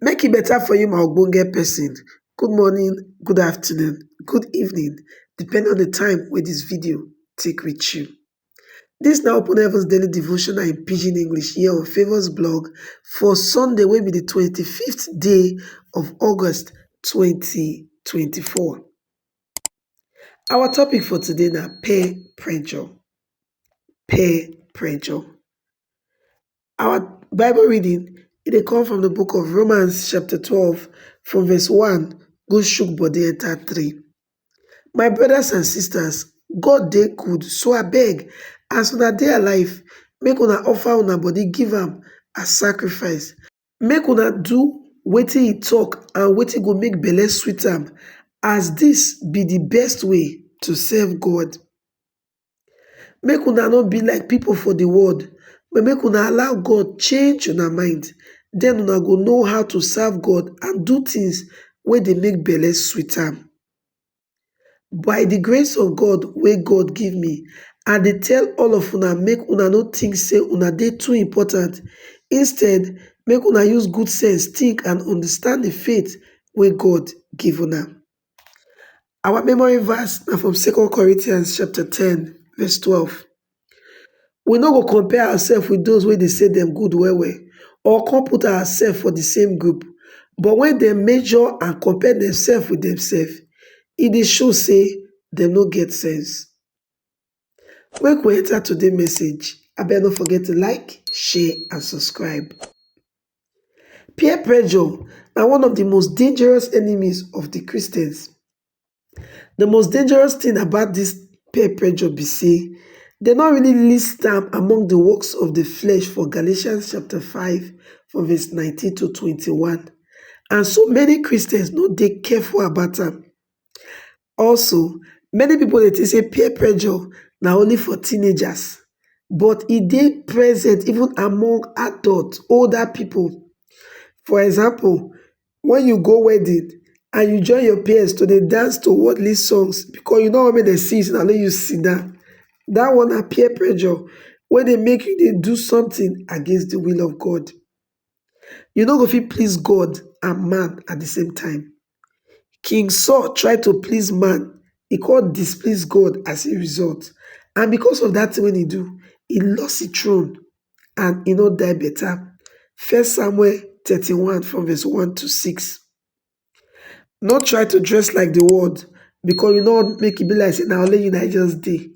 make e beta for you my ogbonge pesin good morning good afternoon good evening depending on di time wey dis video take reach you dis na open heavens daily devotional in pidgin English here on favours blog for Sunday wey be di twenty fifth day of August twenty twenty four our topic for today na peer pressure peer pressure Our Bible reading it dey come from the book of Romans chapter 12 from verse 1 go shook body enter 3. My brothers and sisters, God dey good so I beg, as una dey alive make una offer una body give am as sacrifice. Make una do wetin he talk and wetin go make belle sweet am as this be the best way to serve God. Make una no be like pipo for di world, but make una allow God change una mind. Den una go know how to serve God and do tins wey dey make belle sweet am. By di grace of God wey God give me, I dey tell all of una make una no tink sey una dey too important. Instead, make una use good sense tink and understand di faith wey God give una. Our memory verse na from Second Corinthians chapter ten verse twelve. We no go compare ourselves with those wey dey say dem good well well or come put ourselves for the same group but when dem measure and compare themselves with themselves, e dey show say dem no get sense. Make we enter today message, abeg no forget to like, share and subscribe. Peer pressure na one of the most dangerous enemies of the Christians. The most dangerous thing about this peer pressure be say dem no really list am among the works of the flesh for Galatians chapter 5 from verse 19 to 21 and so many Christians no dey careful about am. Also, many pipo dey think say peer pressure na only for teenagers, but e dey present even among adults, older pipo. For example, wen you go wedding and you join your peers to dey dance to worldly songs because you no want make dem see you say na only you sidan, dat one na peer pressure wey dey make you dey do sometin against di will of God. You no go fit please God and man at di same time. King Saul try to please man, e come displease God as e result and because of dat thing wey e do, e lost e throne and e no die better. First Samuel thirty one from verse one to six. No try to dress like the world because you no want make e be like say na only you na just dey.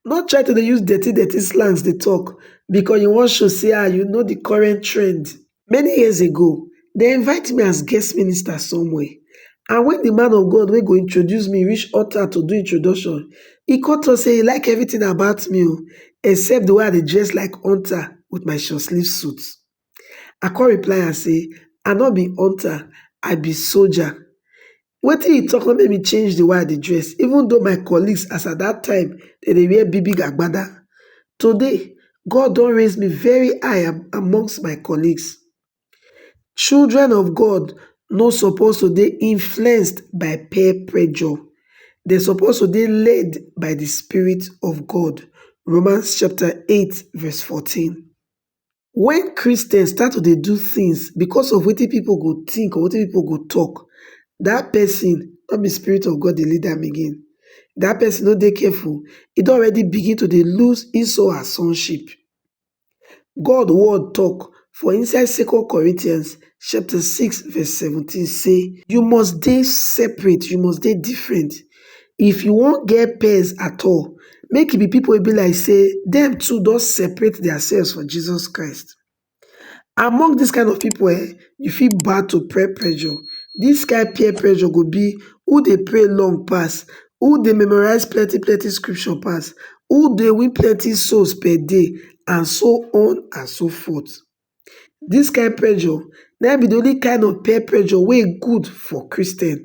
No try to dey use dirty dirty slangs dey talk because you wan show say ah you know the current trend. Many years ago, they invite me as guest minister somewhere and when the man of God wey go introduce me reach altar to do introduction, e come talk say e like everything about me o except the way I dey dress like hunter with my short sleeve suit. I come reply am say I no be hunter, I be soldier. Wetin he talk no make me change the way I dey dress even though my colleagues as at that time dem dey wear big big agbada. Today, God don raise me very high amongst my colleagues. Children of God no suppose to dey influenced by peer pressure. Dem suppose to dey led by the spirit of God. Romans chapter 8 verse 14. Wen Christians start to dey do things because of wetin people go think or wetin people go talk, that person no be spirit of God dey lead am again. That person no dey careful, e don already begin to dey lose his or her sonship. God word talk for inside Second Corinthians chapter six verse seventeen say, You must dey separate, you must dey different, if you wan get pens at all, make e be people wey be like sey dem too don separate their selves for Jesus Christ. Among this kind of people um, you fit bow to peer pressure. This kind peer pressure go be who dey pray long pass, who dey memorize plenty plenty scripture pass, who dey win plenty souls per day and so on and so forth. Dis kain pressure na im be de only kind of peer pressure wey e good for Christian.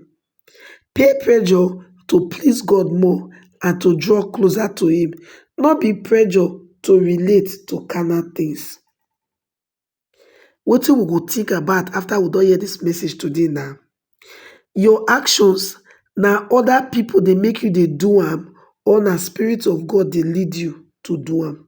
Peer pressure to please God more and to draw closer to him, no be pressure to relate to carnal things. Wetin we go think about after we don hear dis message today na, your actions na other pipu dey make you dey do am or na spirit of God dey lead you to do am?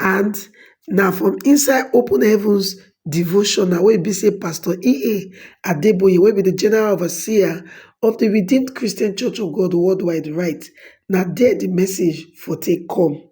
and na from inside open heavens devotional wey e be say pastor EA Adeboye wey be di general overseer of di Redeemed Christian Church of God Worldwide write, na there di message for take come.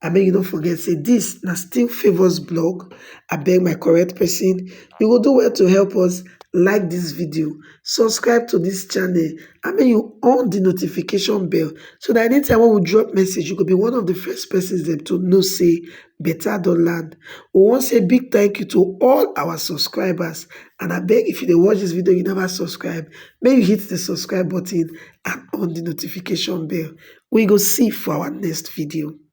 And make you no forget say dis na still favours blog, abeg my correct person, you go do well to help us like dis video subscribe to dis channel and make you on di notification bell so dat anytime wey we drop message you go be one of di first persons dem to know say better don land we wan say big thank you to all our subscribers and abeg if you dey watch dis video you never subscribe make you hit di subscribe button and on di notification bell we go see for our next video